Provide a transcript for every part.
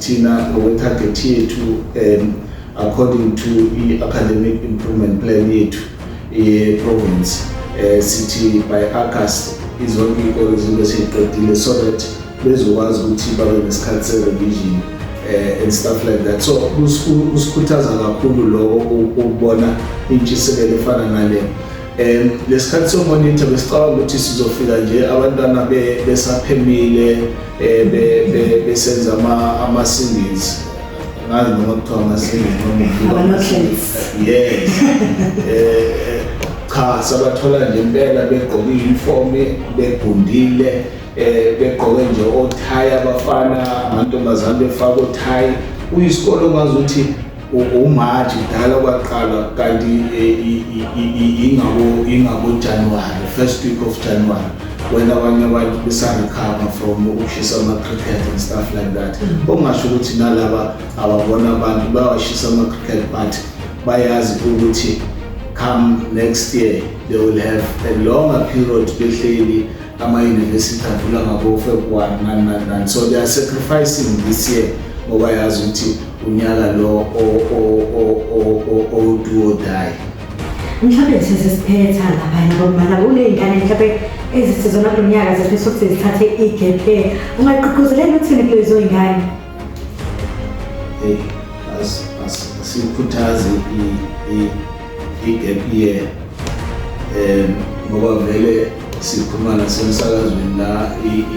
Thina ngokwe-target yethu um according to i-academic improvement plan yethu ye-province um sithi by august izonke iy'kole zibe seyiqedile so that bezokwazi ukuthi babe nesikhathi se-revision um eh, and stuff like that so kusikhuthaza kakhulu loko ukubona intshisekelo efana nale um lesikhathi somonitha besicabanga ukuthi sizofika nje abantwana besaphemile um besenza ama-singles ngazi noma kuthiwa ama-singles nomaamahlens yes um cha sabathola nje impela begqoke i-uniform begundile eh begqoke nje othayi abafana amantombazane befaka othayi uyisikole ongazi ukuthi umaji dala kwaqalwa kanti ingabojanuwari first week of january when abanye abantu besarecover from ukushisa ama-cricket and stuff like that mm. okungasho ukuthi nalaba ababona abantu bawashisa ama-cricket but bayazi ukuthi come next year they will have a longer period behleli amayunivesithi avula ngabofebruwari nani nani nani so they are sacrificing this year ngoba yazi ukuthi unyaka lo owuduodayi mhlawumbe sesesiphetha laphana bomana kuney'ngane mhlawumbe ezisizona kulo nyaka zifisa ukuthi zithathe i-gap year ungaqhuquzeleni ukuthini kulezo y'ngane hey asikhuthazi i-gap year um ngoba vele sikhuluma nasemsakazweni la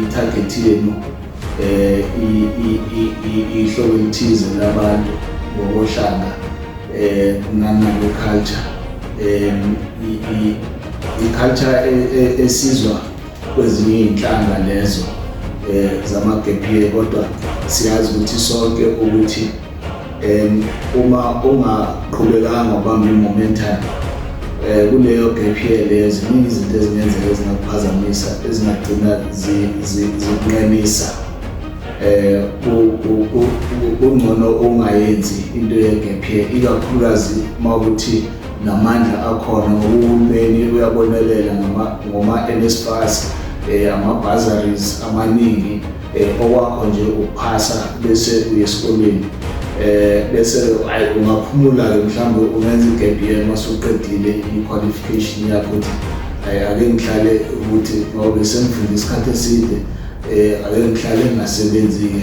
i-target yenu um ihlobo elithize labantu ngokohlanga um nangokwe-culture um i-culture e, e, esizwa kwezinye iy'nhlanga lezo um zamagebhiye kodwa siyazi ukuthi sonke ukuthi um uma ungaqhubekanga ubamba i-momentum um kuleyo gebhiye leyo ziningi izinto ezingenzeka ezingakuphazamisa ezingagcina zikunqemisa um kungcono ungayenzi into yegebhiye ikakhulukazi uma ukuthi namandla akhona ngokuhulumeni uyabonelela ngoma-NSFAS um eh, ama-bazaries amaningi um okwakho nje ukuphasa bese uye esikoleni um bese ayi ungaphumula-ke mhlawumbe ungenza igebiyeni uma suqedile i-qualification yakho ukuthi ayi ake ngihlale ukuthi ngoba besengifunda isikhathi eside um ake ngihlale ngingasebenzi-ke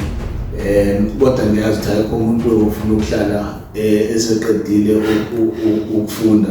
um kodwa ngiyazi ukuthi ayikho umuntu ofuna ukuhlala eh, eseqedile ukufunda.